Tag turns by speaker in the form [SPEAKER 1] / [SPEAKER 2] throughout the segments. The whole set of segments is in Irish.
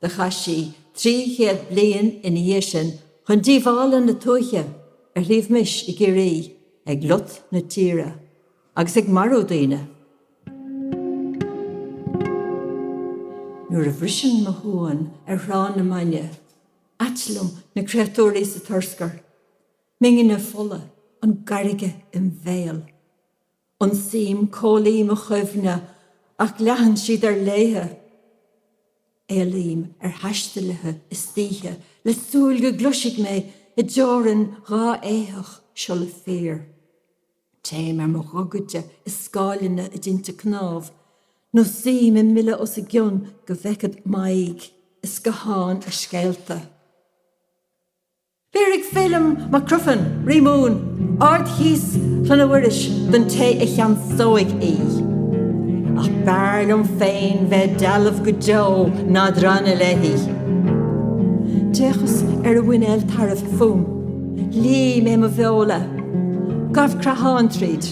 [SPEAKER 1] Do chaith sí trí chéad bliain ina dhiaidh sin chun díobhála na tuaithe ar Shliabh Mis i gCiarraí ag lot na tíre agus ag marú daoine. Nuair a bhriseann mo shuan ar thrá na maidne, ait liom na créatúirí sa turscar, m'ingne fola, an gairge im bhéal. Ionsaím comhlaí mo chuimhne ach leathann siad ar léithe. Éalaím ar thaistealaithe istoíche le súil go gcloisfidh mé i dteorainn dhá éitheach siolla fír. Téim ar mo ghogaide i scáileanna a dtinte cnámh nó suím i mbile os a gcionn go bhfeicfead m'aghaidh i scáthán a scéalta. Béarfaidh Feilim Mac Criomhthainn, Rí Mumhan, ardchíos Chlainne Mhuiris don té a cheansóidh í. Ach b'fhearr liom féin bheith dealbh go deo ná drannadh léi. D'fhéachas ar a mhuinéal tairbh fúm. Ligh mé mo bheola. Ghabh creathán tríd.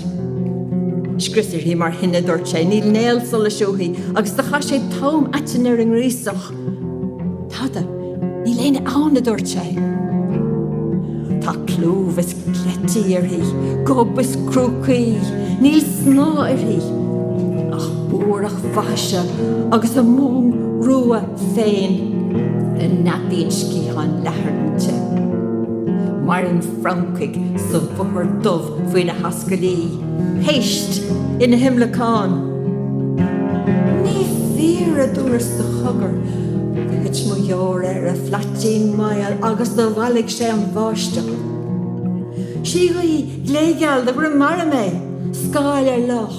[SPEAKER 1] Scrios uirthi mar thine, a dúirt sé. Níl néal solais uaithi agus do chaith sé tom aitinn ar an ngríosach. Tada, níl éinne ann, a dúirt sé. Tá clúmh is cleití uirthi, gob is crúcaí, níl snáth uirthi ach buarach faithise agus a mong rua féin a neadaíonn sciatháin leathair inti. Maireann francaigh sa mhothar dubh faoina hascaillí. péist ina himleacán. Ní fíor a dúras de chogar gur thit mo dheoir ar a phlaitín maol agus do mhallaigh sé an bháisteach. Síogaí gléigeal de dhroim mara mé, scáil ar loch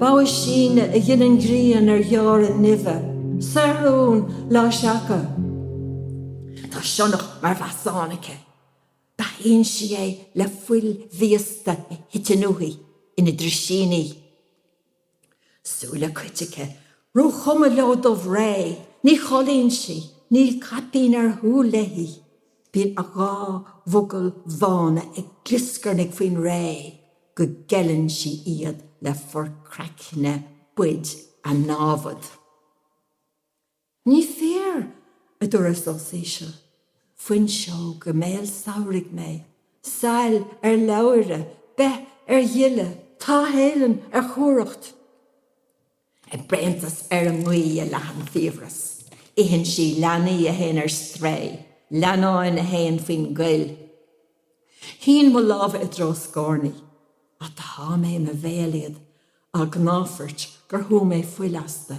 [SPEAKER 1] bogha síne a ghineann grian ar dheora nimhe, saothrún lá seaca. Tá sionnach mar mheasán aici. Beathaíonn sí é le fuil mhíosta a thiteann uaithi ina drisíní. Súile cait aici, róchuma leo dubhré. Ní chodlaíonn sí. Níl caipín ar shúil léi. Bíonn a dhá mhogall bhána ag glioscarnaigh faoin ré go gceileann sí iad le forchraiceanna boid a námhad. Ní fíor, a dúras os íseal. Fuinseog i mbéal samhraidh mé, sail ar leabhaire, beith ar ghile, táithfhéithleann ar chumhracht. A bréantas ar an ngaoith a leathann fiabhras. Itheann sí leanaí a théann ar strae, leannáin a théann faoin gcoill. Shín mo lámha i dtreo a scornaí, ach do shá mé i mo bhéal iad, á gcnáfairt gur shú mé fuil astu.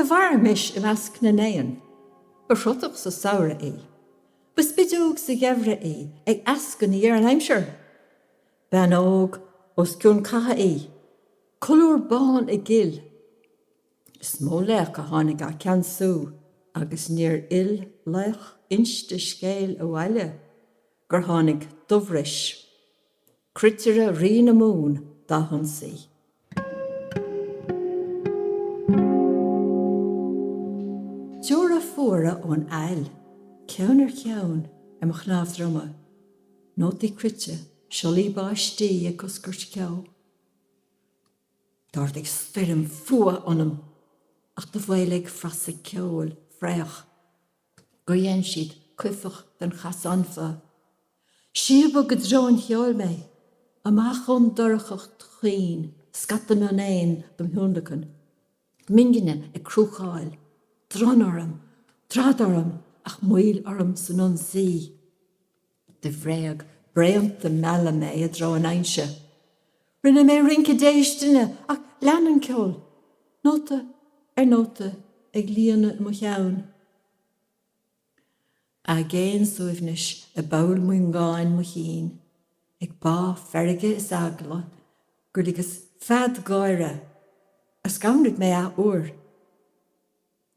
[SPEAKER 1] Do mhair Mis i measc na n-éan. Ba chrotach sa samhradh í. Ba spideog sa gheimhreadh í ag eascainí ar an aimsir. B'fheannóg os cionn catha í. Colúr bán i gcill. Is mó laoch a tháinig á ceannsú agus níor fhill laoch inste scéil abhaile gur tháinig Dubhrois, cruitire Rí na Mumhan, dá hionsaí. Deora fuara ón aill, ceann ar cheann, i mo chnámh droma. Nótaí cruite, siollaí báistí ag coscairt ceo. D'ardaigh stoirm fuath ionam, ach do mhoilligh frasa ceoil fraoch gur dhein siad cuifeach den chasanfa. Síobadh i dtreo an cheoil mé, amach ón dorchacht chaoin, scata mionéan dom thionlacan, m'ingne ag crúcáil, dronn orm, drad orm, ach moill orm san ionsaí. De bhréag bréanta mealladh mé i dtreo an fhoinse. Rinne mé rince déistine ach lean an ceol, nóta ar nóta ag líonadh mo cheann. Aigéan suaimhnis i bpoll muingeáin mo chinn, ag bá feirge is eagla gur ligeas fead gáire, a scanraigh mé athuair.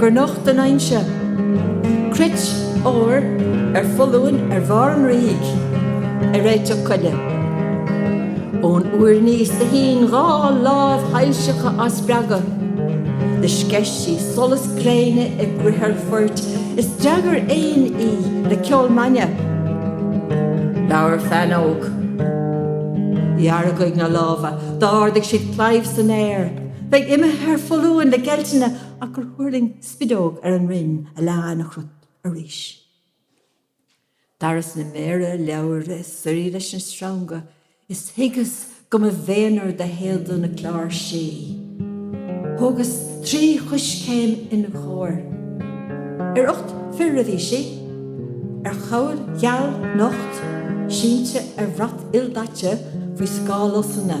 [SPEAKER 1] gur nocht an fhoinse cruit óir ar foluain ar bharr an fhraoigh ar réiteach coille. Ón úir aníos do shín dhá láimh shoilseacha á spreagadh, do sceith sí solas gréine i gcrithir phoirt is d'fhreagair éin í le ceol maidhne. Labhair feannóg. Dheargaigh na lámha, d'ardaigh siad claíomh san aer, Bheadh imithe ar foluain le geiltine ach gur thuirling spideog ar an rinn a lean ina chruit arís. D'fhaireas na méara leabhaire ag suirí leis na sreanga is thuigeas go mba mhéanar do théada na cláirsí. Thógas trí choiscéim ina chomhair. Ar ucht fir a bhí sí. Ar chabhail gheal nocht, sínte ar bhrat ildaite faoi scáth lusanna.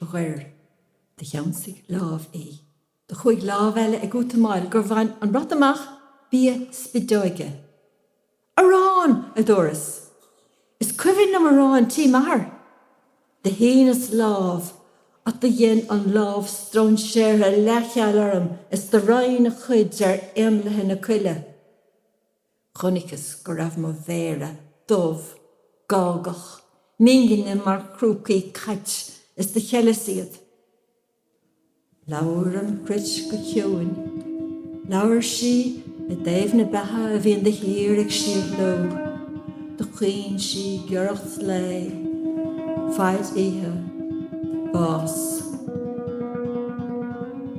[SPEAKER 1] ghoir. Do cheansaigh lámh í. Do chuaidh lámh eile ag útamáil gur bhain an rud amach bia spideoige. Arán! a dúras. Is cuimhin liom arán tí m'athar. Do shíneas lámh ach do dhein an lámh stróinséartha leathcheal orm is do roinn a chuid ar éanlaithe na coille. Chonaiceas go raibh mo mhéara dubh, gágach, m'ingne mar chrúcaí cait is do cheileas iad. Labhair an chruit go ciúin. Labhair sí i dtaobh na beatha a bhíonn de shíor ag síothló. Do chaoin sí giorracht lae. Faid oíche. Bás.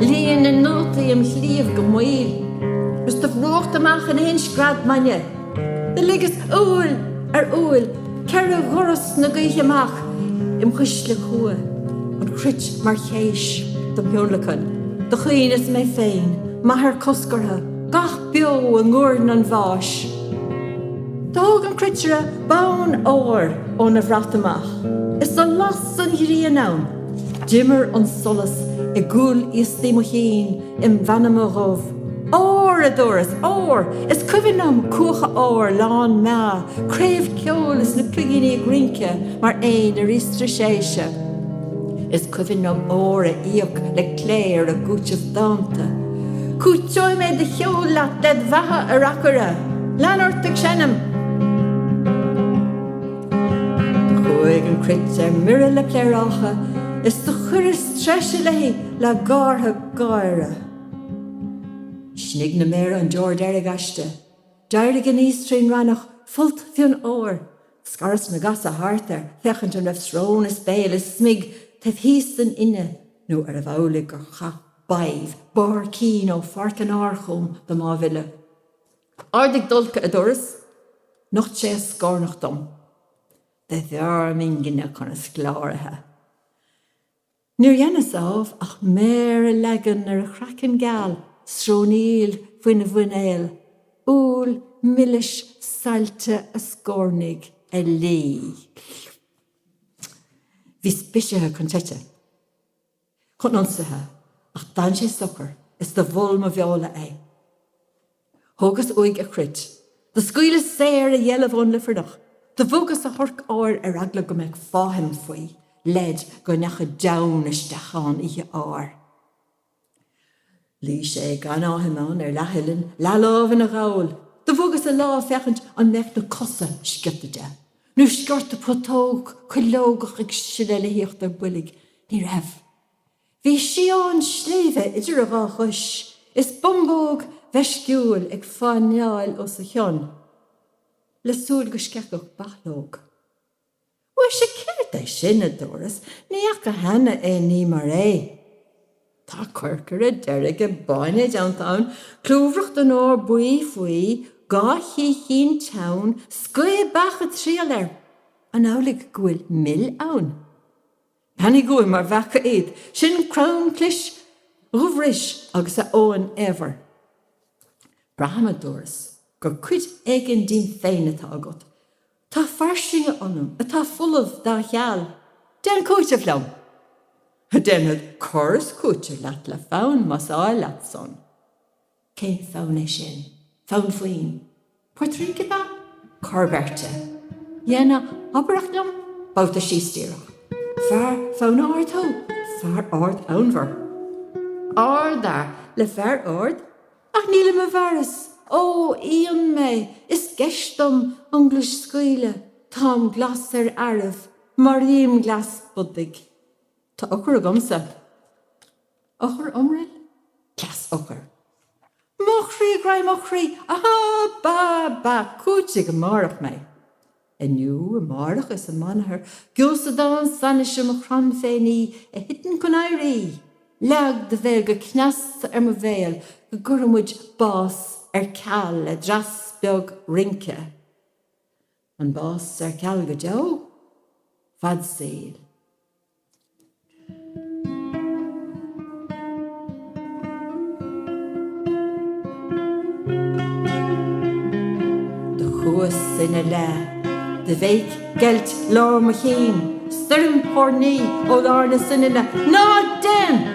[SPEAKER 1] Líon na nótaí im chliabh go maoil is do bhrúcht amach in aon scread maidne. Do ligeas uaill ar uaill ceithre dhoras na gaoithe amach im chuisle cumha, an chruit mar chéis dom thionlacan. Do chaoineas mé féin, m'athair coscartha, gach beo i nguairne an bháis. Thóg an cruitire bonn óir óna bhrat amach is do las an ghrian ann. D'imir an solas i gcúl iostaí mo chinn im' mheanma dhubh. Ór! a dúras. Ór! Is cuimhin liom cuacha óir lán meá, craobh ceoil is na cloigíní ag rince mar éin ar íostrigh séise. Is cuimhin liom ór á íoc le cléir ag cúiteamh dánta. Cúiteoidh mé do cheol leat led bheatha, a reacaire! Lean ort ag seinm! Chuaigh an chruit ar mire le pléarácha is do chuireas treise léi le gártha gáire. Shniog na méara an deor deiridh aisti. D'éirigh aníos trí'n raithneach, folt fionn óir. Scaras na gasa thart air féachaint an raibh srón is béal is smig taobh thíos den fhinne nó arbh amhlaidh gur chaith Badhbh barr cinn ó pháirc an áir chugam dom aidhmhilleadh. Ardaigh d'ulcha, a dúras, nocht sé a scornach dom. Dob fhearr m'ingne chun a scláraithe. Níor dhéanas ámh ach méar a leagan ar a chraiceann geal, srónaíl faoina mhuinéal, úll milis saillte a scornaigh a lí. Bhíos bisithe chun teite. chun ionsaithe, ach d'fhan sé socair is do mhol mo bheola é. Thógas uaidh a chruit, do scaoileas saor a dheilbh ón luifearnach, do bhogas a thorc óir ar eagla go mbeadh fáithim faoi, leid go ndeachaidh deamhan isteach ann oíche áir. Luigh sé gan fháithim ann ar leath-uillinn, leath-lámh ina ghabhal. Do bhogas a lámh féachaint an mbeadh na cosa sciota de, nó sciorta putóg cuileogach ag sileadh le híochtar an bhoilg. Ní raibh. Bhí sián sléibhe idir a dhá chois, is bumbóg mheisciúil ag fáinneáil os a chionn, le súil go sceithfeadh bachlóg. Mhuise céard é sin, a dubhras, ní fhaca cheana aon ní mar é. Tá corcaire deirge báine déanta ann, clúmhrach den ór buí faoi, dhá chíochín teann, scaoth beach ag triall air. An amhlaidh go bhfuil mil ann? Beannaigh go bhfuil mar bheacha iad. Sin crann clis Dhubh Ruis, agus a Eoghain Éibhir. Braithim, a dubhras, gur cuid éigin díom féin atá agat. Tá fairsinge ionam atá folamh dá cheal. Déan cúiteamh liom. Déanfad cur is cúiteamh leat le fonn más áil leat san. Cén fonn é sin? Fonn faoin. Portaireacht ab ea? Cor beirte. Dhéan oidhreacht liom babhta síos díreach. Fear fonnmhar thú? Fear ardfhonnmhar. Ardfhear le fear ard? Ach nílim i bhfearas. Ó, íon mé, is geis dom an glas a scaoileadh. Táim glas ar fhearaibh, maraím glas bodaigh. Tá eochair agamsa. Eochair iomraill? Cleas eochair. Mo chroí graidhin mo chroí! Ahá! Bá! Bá! Cúitigh amárach mé! Inniu, amáireach is amanathar geósadán san is é mo chrann féin í, a thiteann chun éirí! Leag do bhéal go cneasta ar mo bhéal go gcuirfidh muid bás ar ceal le dreas beag rince. An bás ar ceal go deo? Fad saoil. Do chuas ina leith de bhéic geilt lár mo chinn, stoirm thoirní ó lár na soininne, Ná dein!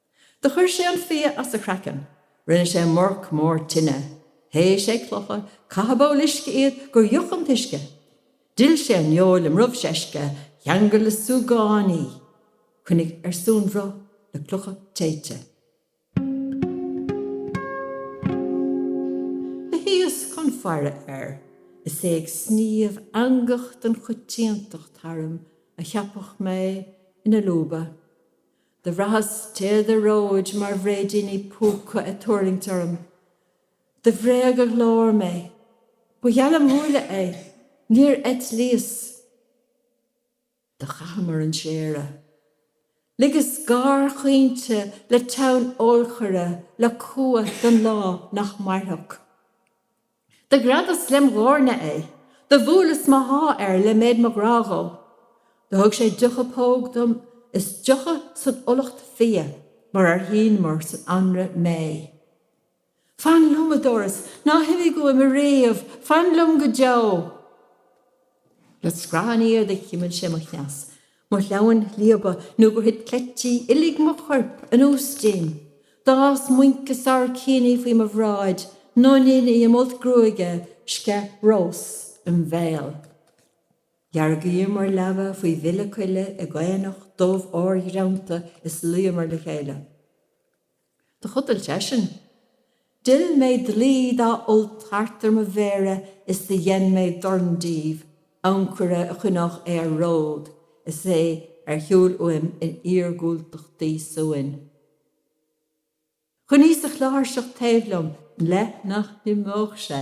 [SPEAKER 1] Do chuir sé an fia as a chraiceann. Rinne sé morc mór tine. Théigh sé clocha, chaith i bpoll uisce iad gur fhiuch an t-uisce. D'fhill sé an fheoil i mbrobh seisce, cheangail le súgán í. Choinnigh ar suanbhruith le clocha téite. Do shuíos chun faire air is é ag sníomh eangach den choitiantacht tharam a cheapfadh mé ina lúba. Do bhraitheas téada róid mar bhréidíní púca a' tuirlingt orm. Do bhréag a ghlór mé. Ba gheall le múille é. Níor eitlíos. Do chaitheamair an séire. Ligeas gáir chaointe le teann eolchaire le cumha don lá nach mairfeadh. Do ghreadas lem dhoirne é. Do bhuaileas mo sháith air le méid mo ghrádh dhó. Do thug sé deocha póg dom is deocha san fhulacht fia mar ar shíneamair san anraith méith. Fan liom, a dúras, ná himigh uaim ariamh, fan liom go deo! Le scraith an fhiaigh do chimil sé mo chneas, mo shleamhain shlíobadh nó gur thit cleití uilig mo chuirp anuas díom. D'fhás muince sabhaircíní faoi mo bhráid, nóiníní i m'fholt gruaige, sceith rós im' bhéal. Dheargaíomar leaba faoi bhile coille i gcaonach dubh órghreanta is luíomar le chéile. Do chodail seisean. D'fhill mé dlaoi dá fholt thart ar mo mhéara is do dhein mé dorn díobh, ancaire a choinneodh é ar ród is é ar shiúl uaim in iargúltachtaí suain. Choinníos a chláirseach taobh liom le nach n-imeodh sé.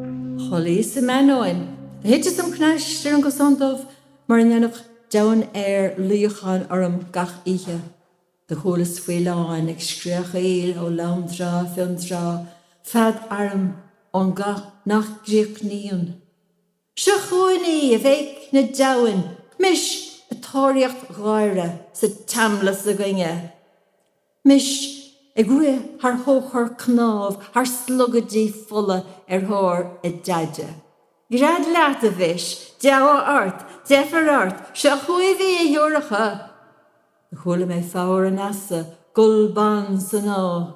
[SPEAKER 1] chodlaíos im ainneoin. Do thiteas im chnaiste ar an gcosán dubh mar a ndéanadh deamhain aeir luíochán orm gach oíche. Do chualas faoileáin ag scréachaíl ó lomtrá Fionntrá, fead airm ón gcath nach gcríochnaíonn. Seo chugainn í, a bhéic na deamhain, Mis ag tóraíocht Dháire sa tseamlas againne! Mis ag rith thar thóchar cnámh, thar slogaidí fola ar thóir a deaide. Gread leat, a Mhis, deabhadh ort, deifir ort, seo chugaibh í, a shiúracha! Do chuala mé foghar an easa, gol ban san áth.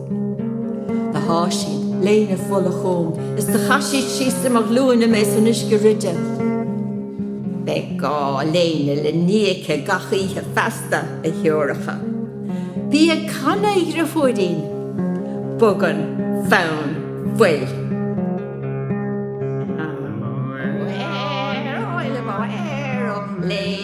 [SPEAKER 1] Do sháith siad léine fola chúm is do chaith siad síos ar mo ghlúine mé san uisce ruide. Beidh dhá léine le ní aici gach oíche feasta, a shiúracha. Bí ag canadh, a dhriofúirín! Bogann fonn fuil. Mo éireoidh le mo éireodh léine.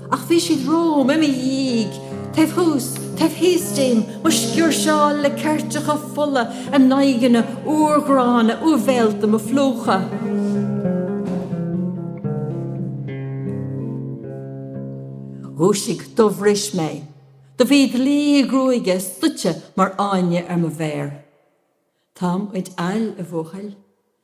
[SPEAKER 1] Ach bhí siad romham, i mo dhiaidh, taobh thuas, taobh thíos díom, mo sciúirseáil le ceirteacha fola, a n-aghaidheanna urghránna úibhéalta, mo phlúchadh. Dhúisigh, do bhris mé. Do bhí dlaoi gruaige stoite mar fháinne ar mo mhéar. Táim id fhail, a bhuachaill.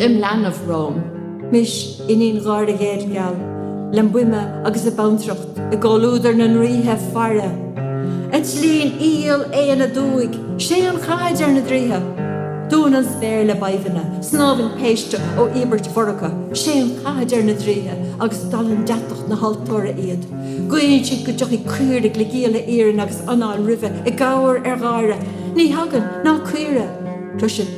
[SPEAKER 1] im leanbh romham. Mis, iníon Dháire Dhéadgheal, lem buime agus a bantracht i gcomhluadar na ndraoithe faire, eitlíonn iall éan aduaidh, séan catha, deir na draoithe, dúnann an spéir le badhbhanna, snámhann péiste ó íobairt mhorgtha, séan catha, deir na draoithe, agus dallann deatach na haltóra iad, guíonn siad go dtiocfaidh caoirigh le gialla iarainn agus anáil nimhe i gcabhair ar Dháire, ní thagann, ná caoire, cloiseann.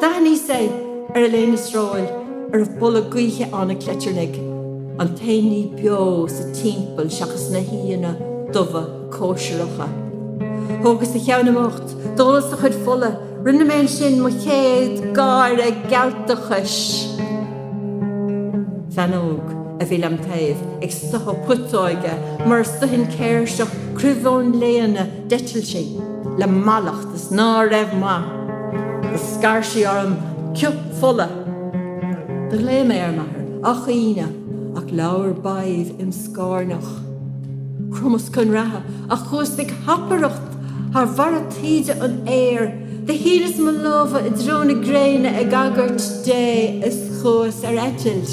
[SPEAKER 1] D'aithníos é ar a léine sróil a raibh boladh gaoithe ann ag cleitearnaigh, an t-aon ní beo sa timpeall seachas na haíonna dubha cóisireacha. Thógas a cheann im ucht, d'ólas a chuid fola, rinne mé ansin mo chéad gáire gealtachais. Feannóg a bhí lem' taobh ag stoitheadh putóige mar a stoitheann céirseach cruimh ón léana, D'eitil sí le mallacht is ná raibh maith do scaird sí orm cioth fola. Do ghlaoigh mé ar m'athair ach aoinne ach labhair badhbh im scornach. Chromas cun reatha ach chuas ag hapaireacht thar bharra taoide an fhéir. Do shíneas mo lámha i dtreo na gréine ag agairt Dé is chuas ar eitilt.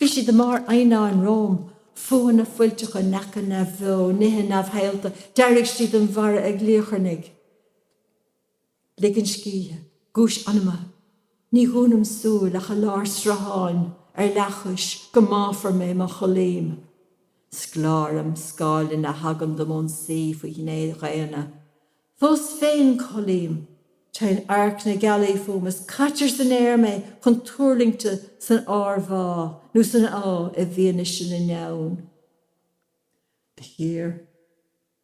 [SPEAKER 1] Bhí siad i mbarr eidhneáin romham, fuathanna fuilteacha, neacha neamhbheo, nithe neamhshaolta. D'éirigh siad an bharra ag liacharnaigh, ligean scíthe, guais anama. Ní dhúnaim súil ach i lár srutháin, ar leathchois, go mbáfar mé má chodlaím. Scláraim scáileanna a thagann dom ón sí faoi ghné dhaonna. Fós féin codlaím, téann adharc na gealaí fúm is caitear san aer mé chun tuirlingte san ármhá nó san áth i bhfianaise na ndeamhan. Do chíor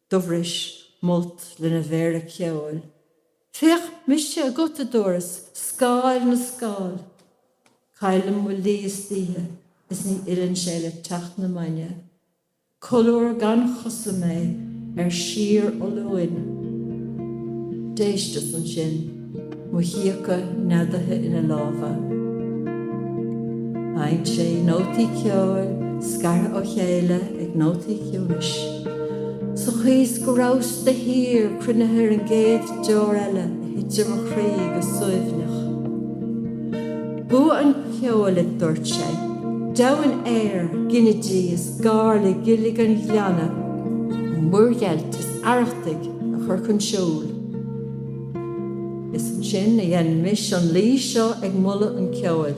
[SPEAKER 1] Dubh Rois m'fholt lena mhéara ceoil. Féach mise agat, a Dubh Rois, scáil na scáil. Caillim mo lí istoíche is ní fhilleann sé le teacht na maidne. Colúr gan chosa mé ar síorfholuain. D'éisteas ansin, mo chíocha neadaithe ina lámha. Sheinn sé nótaí ceoil scartha ó chéile ag nótaí ciúnais, sa chaoi is go rabhas de shíor cruinnithe ar an gcéad deor eile a thit ar mo chroí go suaimhneach. Bua an cheoil a dúirt sé. Deamhain aeir, ginidí is gar le gillig an ghleanna, an muirgheilt is arrachtaigh a chur chun siúil. Is ansin a dhein Mis an laoi seo ag moladh an cheoil.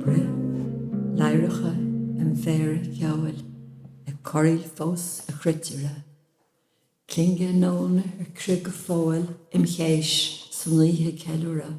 [SPEAKER 1] Bruith ladhracha im mhéara ceoil ag corraíl fós a chruitire, clingeadh nóna ar crith go fóill im chéis is an oíche ag ceiliúradh.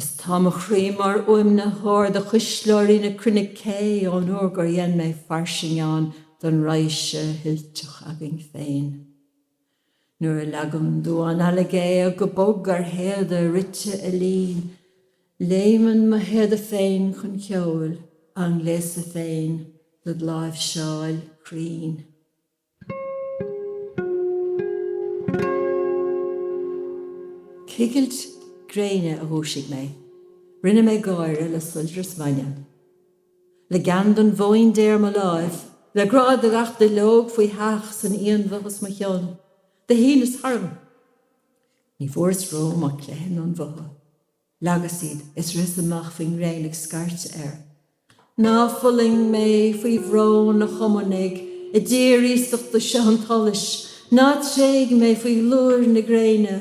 [SPEAKER 1] Is tá mo chroí mar fhuaimnitheoir do chuisleoirí na cruinne cé ón uair gur dhein mé fairsing ann don raidhse thuilteach againn féin. Nuair a leagann damhán alla géag go bog ar théada rite a lín, léimeann mo théada féin chun ceoil, á ngléasadh féin, dod láimhseáil cruinn. Cigilt gréine a dhúisigh mé. Rinne mé gáire le soilbhreas maidne. Le gean don bhóín Dé ar mo láimh. Le grá do gach duilleog faíoch san fhianbhoth os mo chionn. Do shíneas tharm. Ní bhfuaireas romham ach cleitheanna an bhotha. Leagas iad is ritheas amach faoin ngréin ag scairteadh air. Ná fulaing mé faoi bhrón, a Chumannaigh, i dtír iasachta seo an tsolais, ná tréig mé faoi ghlóir na gréine.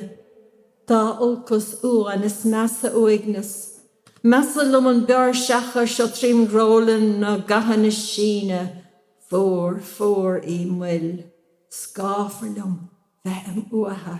[SPEAKER 1] Dá olcas uamhan is measa uaigneas. Measa liom an bior seaca seo trím dhrólann ná gathanna síne. Fuar, fuar í m'fhuil. Scáfar liom bheith im uatha.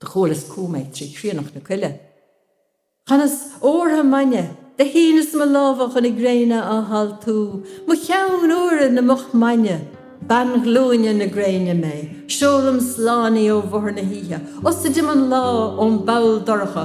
[SPEAKER 1] Do chualas chugam é trí chríonach na coille. Chanas ortha maidne. Do shíneas mo lámha chun na gréine á haltú. Mochean úire na mochmhaidne. Bean ghlúine na gréine mé. Seolaim slán í ó mhothar na hoíche. Asaídim an lá ón bpoll dorcha.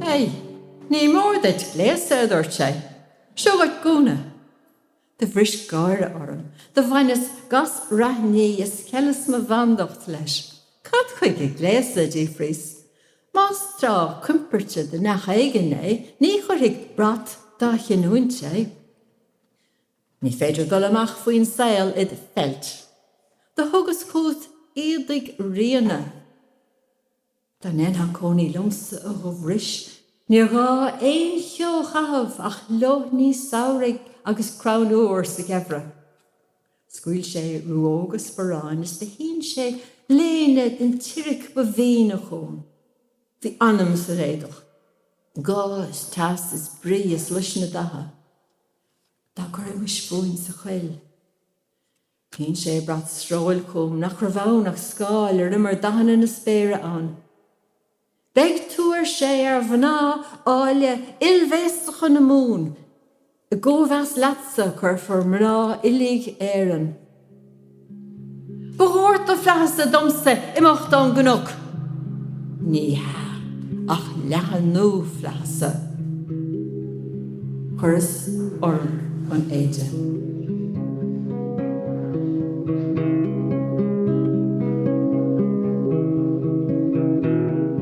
[SPEAKER 1] Hé, ní mór duit gléasadh, a dúirt sé. Seo dhuit gúna. Do bhris gáire orm. Do bhaineas gas raithní is cheileas mo bhandacht leis. Cad chuige gléasadh? a d'fhiafraíos. Más tráth coimpeirte do neach éigin é, ní chuirfidh brat dá chinniúint é. Ní féidir dul amach faoin saol id pheilt. Do thugas chugat éadaigh ríona. Dá ndéanfá cónaí liomsa a dúras níor ghá aon cheo a chaitheamh ach leoithní samhraidh agus crann iúr sa gheimhreadh. Scaoil sé ruóga sparáin is do shín sé léine den tsiric ba mhíne chugam. Bhí anam san éadach. Gá is teas is brí is luisne datha dá gcuirimis fúinn sa choill. Shín sé brat sróil chugam nach raibh ann ach scáil ar imir dathanna na spéire ann. Beidh tú, ar sé, ar mhná áille oilbhéasacha na Mumhan. I gcóimheas leatsa cuirfear mná uilig Éireann. Ba dhoirteadh flaitheasa domsa imeacht ón gcnoc. Ní hea ach leathnú flaitheasa. Chuireas orm an éide.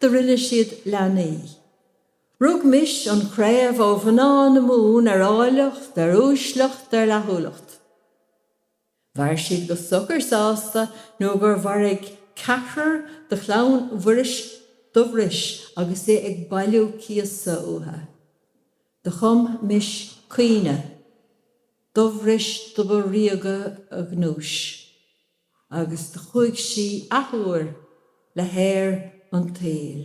[SPEAKER 1] Do rinne siad leanaí. Rug Mis an chraobh ó mhná na Mumhan ar áilleacht, ar uaisleacht, ar fhlaithiúlacht. Mhair siad go socair sásta nó gur mharaigh ceathrar de chlann Mhuiris Dubh Ruis agus é ag bailiú cíosa uatha. Do chum Mis caoineadh. Dubh Ruis do ba ríoga a ghnúis. agus do chuaidh sí athuair le haer an tsaoil.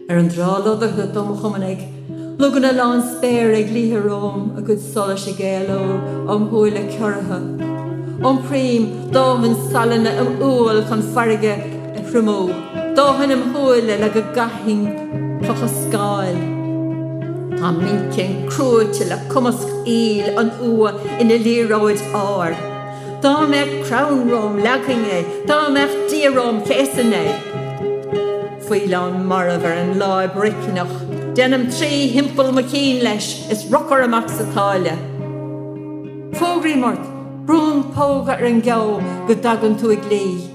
[SPEAKER 1] Ar an dtrá lodartha dom chumann éag loganna lán spéire ag liathadh romham, a gcuid solais ag éaló óm shúile ciorraithe. Iompraím dóthain salainn im umhail chun farraige. a thriomú. Dóthain im' shúile le go gcaithfinn clocha scáil. Tá m'inchinn cruaite le cumasc aoil an fhuatha ina liathróid áir. Dá mbeadh crann romham leagfainn é, dá mbeadh Dia romham chéasainn é. Faoileán marbh ar an láib roicneach, déanaim trí thimpeall mo chinn leis is urchar amach sa tsáile. Fógraím ort, brúim póga ar an gceo go dtagann tú i gclí.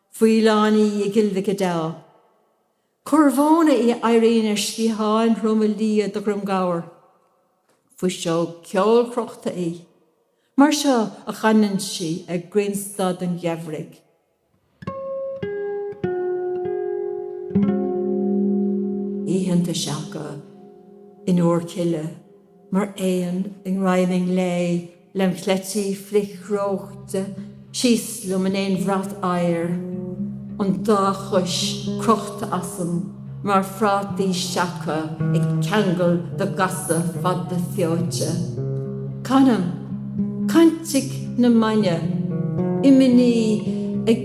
[SPEAKER 1] Faoileán í i gCill Mhic Adeá. Corr mhóna í a éiríonn ar sciatháin throma liath de dhroim gabhair. Fuiseog cheolchrochta í. Mar seo a chanann sí ag grianstad an gheimhridh. Oícheanta seaca in iúr cille mar éan i ngreim i nglae. Lem chleití flichreoite síos liom in aon bhrat oighir, an dá chois crochta asam mar phrátaí seaca ag ceangal de ghasa fada feoite. Canaim caintic na maidne, imní ag.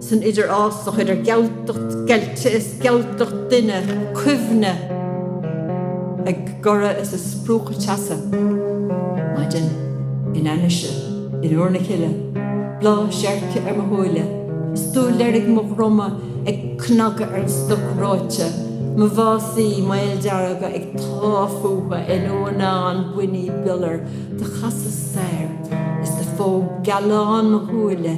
[SPEAKER 1] san idirfhásach idir gealtacht geilte is gealtacht duine cuimhne ag goradh is ag spriúchadh teasa. Maidin, in ainnise, in iúr na cille, bláth seirce ar mo shúile, stúil deiridh mo dhroma ag cnagadh ar an stoc reoite, mo mhásaí maoldearga ag táth fúthu in uanán buinní biolair. Do chasas soir is do phóg gealán mo shúile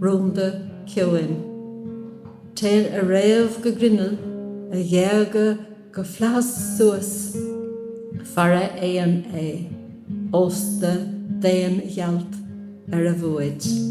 [SPEAKER 1] rúnda, ciúin. Téann a fhréamh go grinneall, a ghéaga go flaitheas suas. Fara éan é, ósta d'aon ghealt ar a bhfuaid.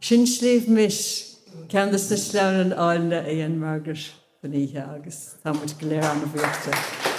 [SPEAKER 1] Sin Sliabh Mis, ceann dos na sleamhnáin áilne a dhein Margaret don oíche agus táimid go léir an-bhuíoch di.